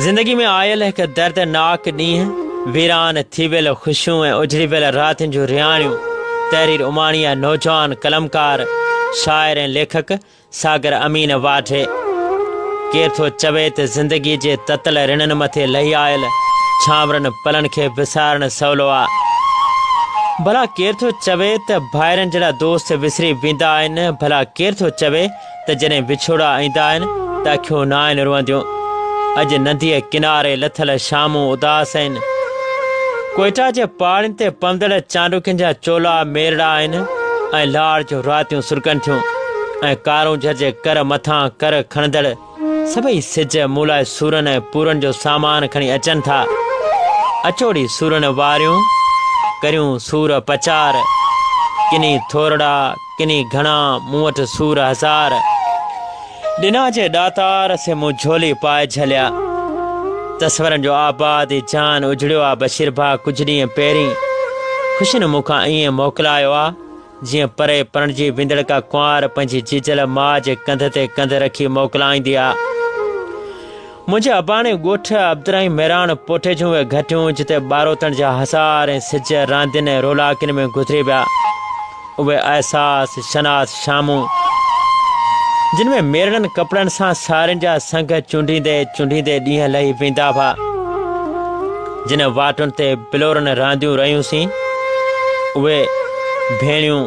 زندگي ۾ آيل هڪ دردناڪ ڏينهن، ويران ٿي ويل خوشيون ۽ اجڙي ويل راتين جون رهاڻيون، تحرير اماڻي ۽ نوجوان قلمڪار، شاعر ۽ ليکڪ ساگر امين واڍي. ڪير ٿو چوي ته زندگيء جي تتل رڻن مٿي لهي آيل ڇانورن پلن کي وسارڻ سولو آ؟ ڀلا ڪير ٿو چوي ته ڀائرن جهڙا دوست وسري ويندا آهن؟ ڀلا ڪير ٿو چوي ته جڏهن وڇوڙا ايندا آهن ته اکيون ناهن روئنديون؟ اڄ ننديء ڪناري لٿل شامون اداس آهن. ڪوئيٽا جي پاڙين تي پوندڙ چانڊوڪين جا چولا ميرڙا آهن ۽ لاڙ جون راتيون سرڪن ٿيون. ۽ ڪارون جھج ڪر مٿان ڪر کڻندڙ سڀئي سج مون لاء سورن ۽ پورن جو سامان کڻي اچن ٿا. اچوڙي سورن واريون، ڪريون سور پچار، ڪني ٿورڙا، ڪني گھڻا، مون وٽ سور ھزار. ڏنا جي ڏاتار سي مون جھولي پائي جھليا. تصورن جو آباد ھي جھان اجڙيو آ بشير ڀاء ڪجھ ڏينھن پهرين خوشين مون کان ائين موڪلايو آ. جيئن پري پرڻجي ويندڙ ڪا ڪنوار پنهنجي جيجل ماء جي ڪنڌ تي ڪنڌ رکي موڪلائيندي آ. منهنجي اباڻي ڳوٺ عبدالرحيم ميراڻ پوٺي جون اهي گهٽيون جتي ٻاروتڻ جا هزار ۽ سج راندين ۽ رولاڪين ۾ گذري ويا اهي احساس شناس شامون جن ۾ ميرڙن ڪپڙن سان سارين جا سنگ چونڊيندي چونڊيندي ڏينهن لهي ويندا هئا. جن واٽن تي بلورن رانديون رهيون سين، اهي ڀيڻيون،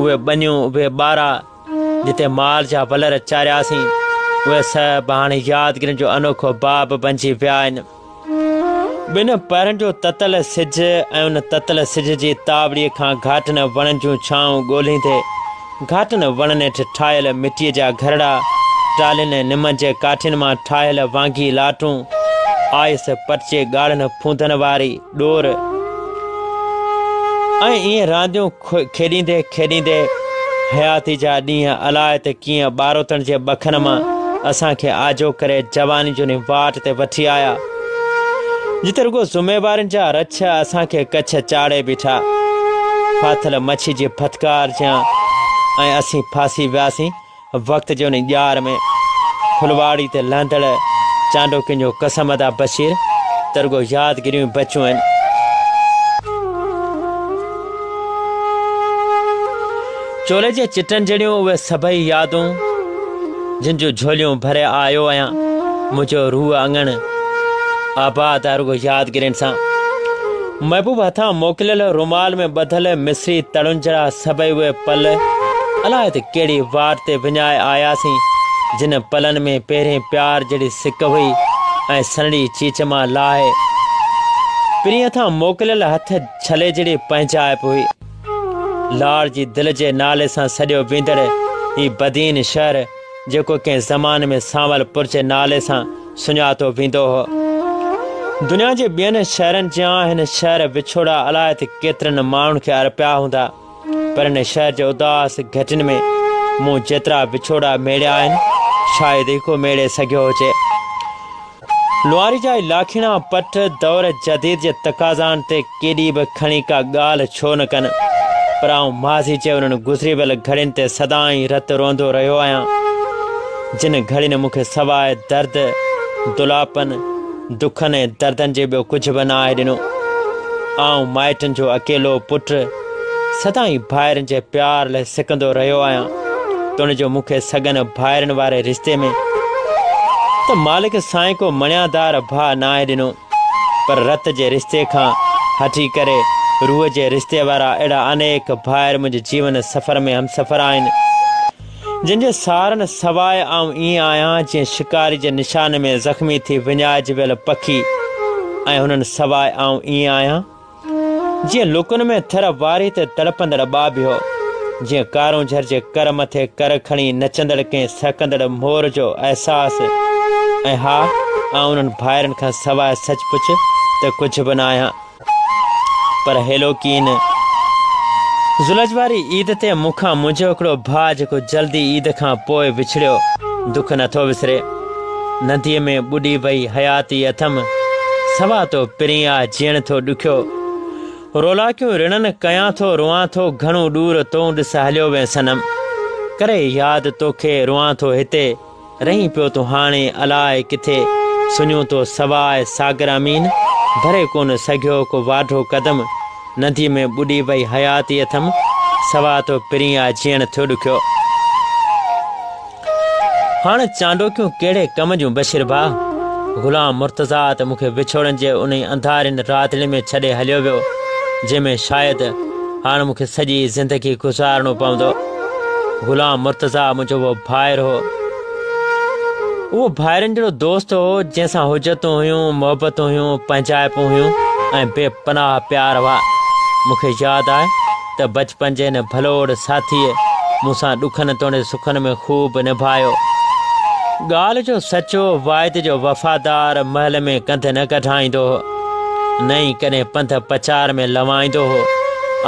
اهي ٻنيون، اهي ٻارا، جتي مال جا ولر چاريا سين، اهي سڀ هاڻ يادگيرن جو انوکو باب بنجي ويا آهن. ٻن پهرن جو تتل سج ۽ ان تتل سج جي تاوڙي کان گهاٽن وڻن جون ڇانو ڳولهيندي، گهاٽن وڻن هيٺ ٺاهيل مٽيء جا گهرڙا، ٽالهين ۽ نمن جي ڪاٺين مان ٺاهيل وانگي لاٽون، آئس پٽجي ڳاڙهن ڦوندن واري ڏور ۽ ائين رانديون کيڏيندي کيڏيندي حياتي جا ڏينهن الاء ته ڪيئن ٻاروتڻ جي ٻکن مان اسان کي آجو ڪري جواني جوني واٽ تي وٺي آيا. جتي رڳو ذميوارين جا رڇ اسان کي ڪڇ چاڙهي بيٺا. ڦاٿل مڇي جي ڦٿڪار جيان ۽ اسين ڦاسي وياسين وقت جي ان ڄار ۾. ڦلواڙي تي لهندڙ چانڊوڪين جو قسم ادا بشير ته رڳو يادگيريون ئي بچيون آهن. چولي جي چٽن جهڙيون اهي سڀئي يادون، جن جون جھوليون ڀري آيو آهيان. منهنجو روح اڱڻ آباد آهي رڳو يادگيرين سان. محبوب هٿان موڪليل رومال ۾ ٻڌل مصري تڙن جھڙا سڀئي اهي پل، الاء ته ڪهڙي واٽ تي وڃائي آياسين، جن پلن ۾ پهرين پيار جهڙي سڪ هئي ۽ سنهڙي چيچ مان لاهي پرينء هٿان موڪليل هٿ ڇلي جهڙي پنهنجائپ هئي. لاڙ جي دل جي نالي سان سڏيو ويندڙ هي بدين شهر جيڪو ڪنهن زمان ۾ سانول پور جي نالي سان سڃاتو ويندو هو دنيا جي ٻين شهرن جيان هن شهر وڇوڙا الاء ته ڪيترن ماڻهن کي ارپيا هوندا پر هن شهر جي اداس گهٽين ۾ مون جيترا وڇوڙا ميڙيا آهن شايد هڪو ميڙي سگهيو هجي لواري جا لاکيڻا پٺ دور جديد جي تقاضائن تي ڪيڏي به کڻي ڪا ڳالهه ڇو نه ڪن، پر آئون ماضي جي انهن گذري ويل گهڙين تي سدائين رت روئندو رهيو آهيان، جن گهڙين مون کي سواء درد، دلاپن، دکن ۽ دردن جي ٻيو ڪجهه به نه آهي ڏنو. آئون مائٽن جو اڪيلو پٽ. سدائين ڀائرن جي پيار لئه سڪندو رهيو آهيان تون جو مون کي سڳن ڀائرن واري رشتي ۾ ته مالڪ سائين ڪو مڻيادار ڀاء ناهي ڏنو پر رت جي رشتي کان هٽي ڪري روح جي رشتي وارا اهڙا انيڪ ڀائر منهنجي جيون سفر ۾ همسفر آهن جن جي سارن سواء آئون ائين آهيان جيئن شڪاري جي نشان ۾ زخمي ٿي وڃائجي ويل پکي ۽ هنن سواء آئون ائين آهيان جيئن لڪن ۾ ٿر واري تي تڙپندڙ ٻاٻيهو، جيئن ڪارونجهر جي ڪر مٿي ڪر کڻي نچندڙ ڪنهن سهڪندڙ مور جو احساس. ۽ ها، آئون انهن ڀائرن کان سواء سچ پچ ته ڪجهه به نه آهيان. پر هيلوڪين، زلج واري عيد تي مون کان منهنجو هڪڙو ڀاء جيڪو جلدي عيد کان پوء وڇڙيو، دک نٿو وسري. ننديء ۾ ٻڏي وئي حياتي اٿم، سوا تو پرين آ جيئڻ ٿو ڏکيو. رولاڪيون رڙن ڪيان ٿو روئان ٿو گهڻو ڏور تون ڏس هليو وين صنم، ڪري ياد توکي روئان ٿو هتي رهين پيو تون هاڻي الاء ڪٿي سڃون تو سواء ساگر امين ڀري ڪونه سگهيو ڪو واڍو قدم، ننديء ۾ ٻڏي وئي حياتي اٿم، سوا تو پرين آ جيئڻ ٿو ڏکيو. هاڻ چانڊوڪيون ڪهڙي ڪم جون بشير ڀاء. غلام مرتضيٰ ته مون کي وڇوڙن جي انهي انڌارين راتڙي ۾ ڇڏي هليو ويو، جنهن ۾ شايد هاڻ مون کي سڄي زندگي گذارڻو پوندو. غلام مرتضيٰ منهنجو اهو ڀائر هو. اهو ڀائرن جهڙو دوست هو، جنهن سان حجتون هيون، محبتون هيون، پنهنجائپون هيون ۽ بي پناهه پيار هئا. مون کي ياد آهي. ته بچپن جي هن ڀلوڙ ساٿيء مون سان ڏکن توڻي سکن ۾ خوب نڀايو. ڳالهه جو سچو واعد جو وفادار محل ۾ ڪنڌ نه ڪڍائيندو هو، نه ئي ڪڏهن پنڌ پچار ۾ لوائيندو هو.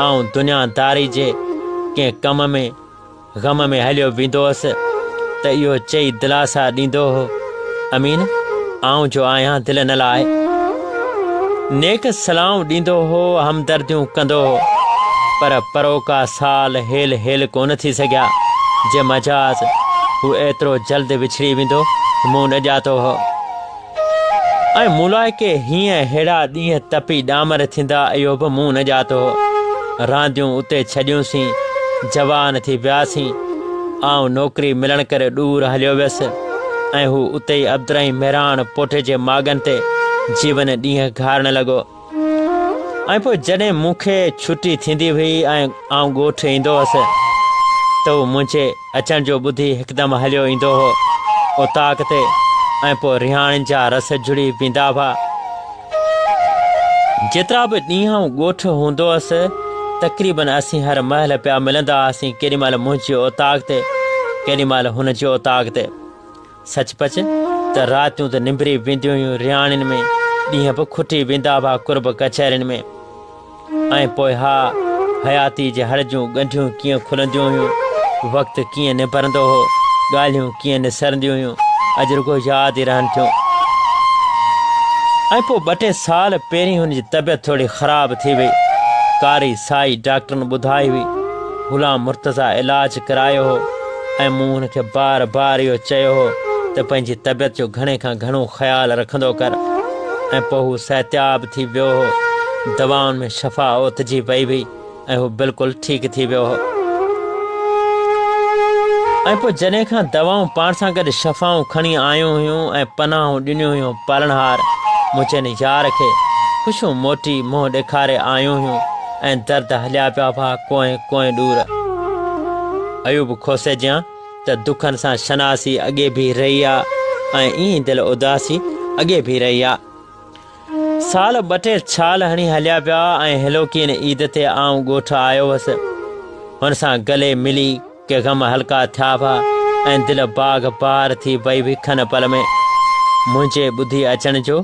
آئون دنيا داري جي ڪنهن ڪم ۾. غم ۾ هليو ويندو هوس ته اهو چئي دلاسا ڏيندو هو امين آئون جو آهيان دل نه لائي نيڪ سلائون ڏيندو هو همدرديون ڪندو هو پر پروڪا سال هيل هيل ڪون ٿي سگهيا جي مجاز هو ايترو جلد وڇڙي ويندو مون نه ڄاتو هو ۽ ملائڪي هينئن ههڙا ڏينهن تپي ڏامر ٿيندا اهو به مون نه ڄاتو هو رانديون اتي ڇڏيون سين جوان ٿي ويا سين آئون نوڪري ملڻ ڪري ڏور هليو ويس ۽ هو اتي ئي عبدالرحيم مهراڻ پوٽي جي ماڳن تي جيون ڏينهن گهارڻ لڳو ۽ پوء جڏهن مون کي ڇٽي ٿيندي هئي ۽ آئون ڳوٺ ايندو هوس ته هو منهنجي اچڻ جو ٻڌي هڪدم هليو ايندو هو اوطاق تي ۽ پوء رهاڻين جا رس جڙي پيندا هئا. جيترا به ڏينهن آئون ڳوٺ هوندو هوس تقريبن اسين هر مهل پيا ملندا هئاسين ڪيڏي مهل منهنجي اوطاق تي ڪيڏي مهل هن جي اوطاق تي. سچ پچ ته راتيون ته نمبري وينديون هيون رياڻين ۾، ڏينهن به کٽي ويندا هئا قرب ڪچهرين ۾، ۽ پوء ها حياتي جي هڙ جون ڳنڍيون ڪيئن کلنديون هيون، وقت ڪيئن نبرندو هو، ڳالهيون ڪيئن نسرنديون هيون، اڄ رڳو ياد ئي رهن ٿيون. ۽ پوء ٻه ٽي سال پهرين هن جي طبيعت ٿوري خراب ٿي وئي، ڪاري سائي ڊاڪٽرن ٻڌائي هئي، غلام مرتضيٰ علاج ڪرايو هو، ۽ مون هن کي بار بار اهو چيو هو ته پنهنجي طبيعت جو گهڻي کان گهڻو خيال رکندو ڪر ۽ پوء هو صحتياب ٿي ويو هو. دوائن ۾ شفا اوتجي پئي هئي ۽ هو بلڪل ٺيڪ ٿي ويو هو. ۽ پوء جڏهن کان دوائون پاڻ سان گڏ شفائون کڻي آيون هيون ۽ پناهون ڏنيون هيون پالڻهار منهنجن يار کي خوشيون موٽي منهن ڏيکاري آيون هيون ۽ درد هليا پيا هئا ڪوئين ڪوئين ڏور. ايوب کوسي جيان ته دکن سان شناسي اڳي بيهي رهي آ ۽ ايئن دل اداسي اڳي بيهي رهي آ. سال ٻه ٽي ڇال هڻي هليا ويا ۽ هيلوڪين عيد تي آئون ڳوٺ آيو هوس. هن سان گلي ملي ڪي غم هلڪا ٿيا هئا ۽ دل باغ بهار ٿي وئي هئي کن پل ۾. منهنجي ٻڌي اچڻ جو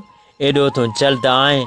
ايڏو تون جلد آئين؟